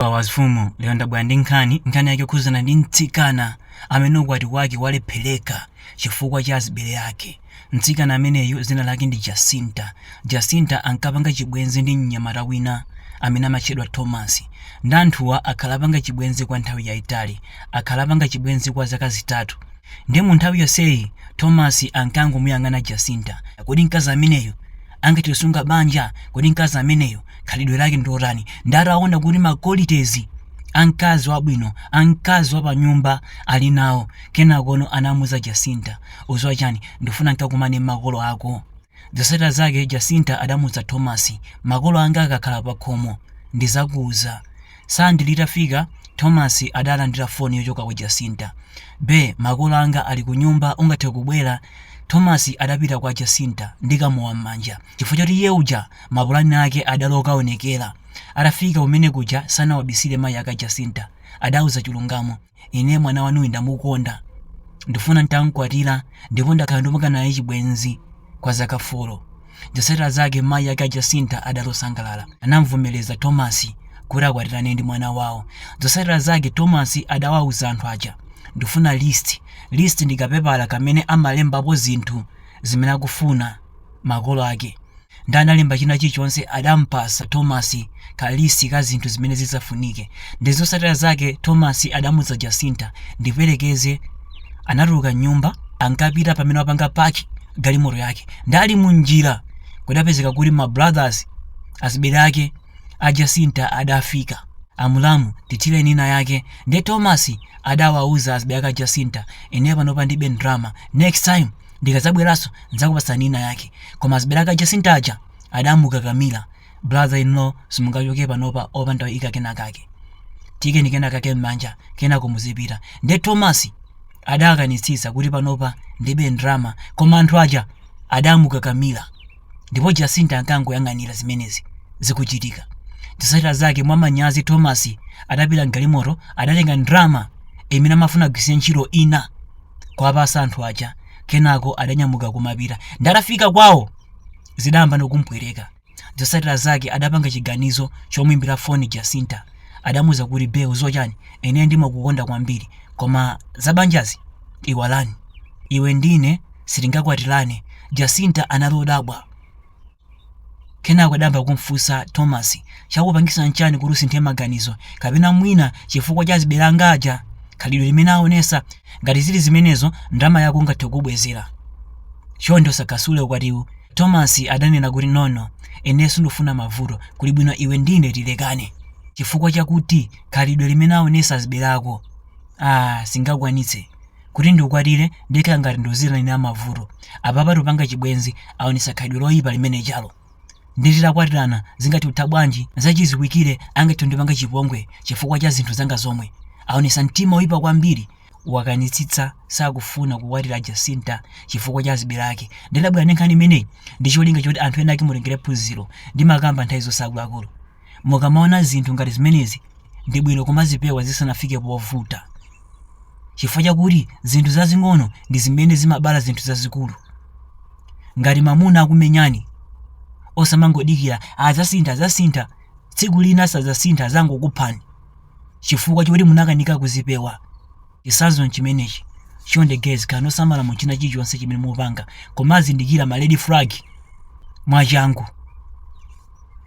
a mfumu lero ndabwera ndi nkhani nkhani yake yokhuzana ndi mtsikana amene ukwati wake walephereka chifukwa cha azibale ake mtsikana ameneyu dzina lake ndi jacinta jacinta ankapanga chibwenzi ndi mnyamata wina amene amatchedwa thomas nde anthuwa akhala apanga chibwenzi kwa nthawi yayitali akhala apanga chibwenzi kwa zaka zitatu nde mu nthawi yonseyi thomas ankangomuyang'ana jacinta kodi mkazi ameneyu angathe kusunga banja kodi mkazi ameneyo khalidwe lake ndilotani ndati aona kuti ma qualities a mkazi wabwino a mkazi wapanyumba ali nawo kenakono anamuuza jacinta udziwa chani ndifuna nkakumane ndi makolo ako zotsatira zake jacinta adamuuza thomas makolo anga akakhala pakhomo ndizakuuza Sande litafika, Thomas adalandira foni yochokera kwa Jacinta. Be, makolo anga ali kunyumba, ungathe kubwera? Thomas adapita kwa Jacinta ndi kamowa m'manja chifukwa choti iye uja mapulani ake adali okaonekera. Atafika kumene kuja sanawabisire mayi ake a Jacinta. Adawauza chilungamo. Ine mwana wanuyu ndamukonda. Ndifuna n'tam'kwatira ndipo ndakhala ndikupanga naye chibwenzi kwa zaka folo. Zotsatira zake mayi ake a Jacinta adali osangalala. Anam'vomereza Tomasi kuti akwatirane ndi mwana wawo. Zotsatira zake Tomasi adawauza anthu aja, Ndifuna list. List ndi kapepala kamene amalembapo zinthu zimene akufuna. makolo ake nde analemba china chilichonse adampasa Thomas kalist ka zinthu zimene zidzafunike nde zotsatira zake Thomas adamuuza Jacinta ndiperekeze anatuluka m'nyumba ankapita pamene wapanga park galimoto yake nde ali mu njira kudapezeka kuti ma brothers azibale ake a Jacinta adafika a mulamu tithireni ina yake nde Thomas adawauza azibale ake a Jacinta ine panopa ndilibe ndalama next time ndikadzabweranso ndidzakupatsani ina yake koma azibale ake a Jacinta aja adamukakamira brother in law simungachoke panopa opanda kuika kenakake tiikeni kenakake m'manja kenako muzipita nde thomas adakanitsitsa kuti panopa ndilibe ndalama koma anthu aja adamukakamira ndipo Jacinta ankangoyang'anira zimenezi zikuchitika. Zotsatira zake, mwamanyazi Thomas adapita m'galimoto, adatenga ndalama imene amafuna agwiritse ntchito ina kuwapatsa anthu aja, kenako adanyamuka kumapita. Nde atafika kwawo, zidayambano kumpweteka. Zotsatira zake, adapanga chiganizo chomuimbira foni Jacinta. Adamuuza kuti, Be, udziwa chani, ine ndimakukonda kwambiri, koma za banjazi iwalani. Iwe ndi ine Sitingakwatirane, Jacinta anali odabwa. Kenako adayamba kumfunsa Thomas, chakupangisa nchani kuti usinthe maganizo, kapena mwina chifukwa cha azibale anga aja? Khalidwe limene aonesa? Ngati zili zimenezo, ndalama yako ngathe kukubwezera. Chonde usasule ukwatiwu, Thomas adanena kuti nono, ine sindikufuna mavuto, kuli bwino iwe ndine tilekane. Chifukwa chakuti khalidwe limene aonesa azibale ako? Aaa, sindingakwanitse. Kuti ndikukwatire, ndikhala ngati ndikuziitanira mavuto. Apapa tikupanga chibwenzi, aonetsa khalidwe loipa limene lija. Ndiye titakwatirana, zingathe kutha bwanji? Zachidziwikire angathe kundipanga chipongwe chifukwa cha zinthu zanga zomwe. Aonetsa mtima woipa kwambiri. Wakanitsitsa sakufuna kukwatira Jacinta chifukwa cha azibale ake. Ndiye ndabwera ndi nkhani imeneyi ndi cholinga choti anthu enaake mutengere phunziro. Ndimakamba nthawi zonse akuluakulu. Mukamaona zinthu ngati zimenezi, ndi bwino kumazipewa zisanafike povuta, chifukwa chakuti zinthu zazing'ono ndi zimene zimabala zinthu zazikulu. Ngati mwamuna akukumenyani, osamangodikira adzasintha adzasintha, tsiku lina sadzasintha adzangokuphani chifukwa choti munakanika kuzipewa. Chitsanzo nchimenechi. Chonde guys, khalani osamala mu china chilichonse chimene mupanga, kumazindikira ma red flag mwachangu.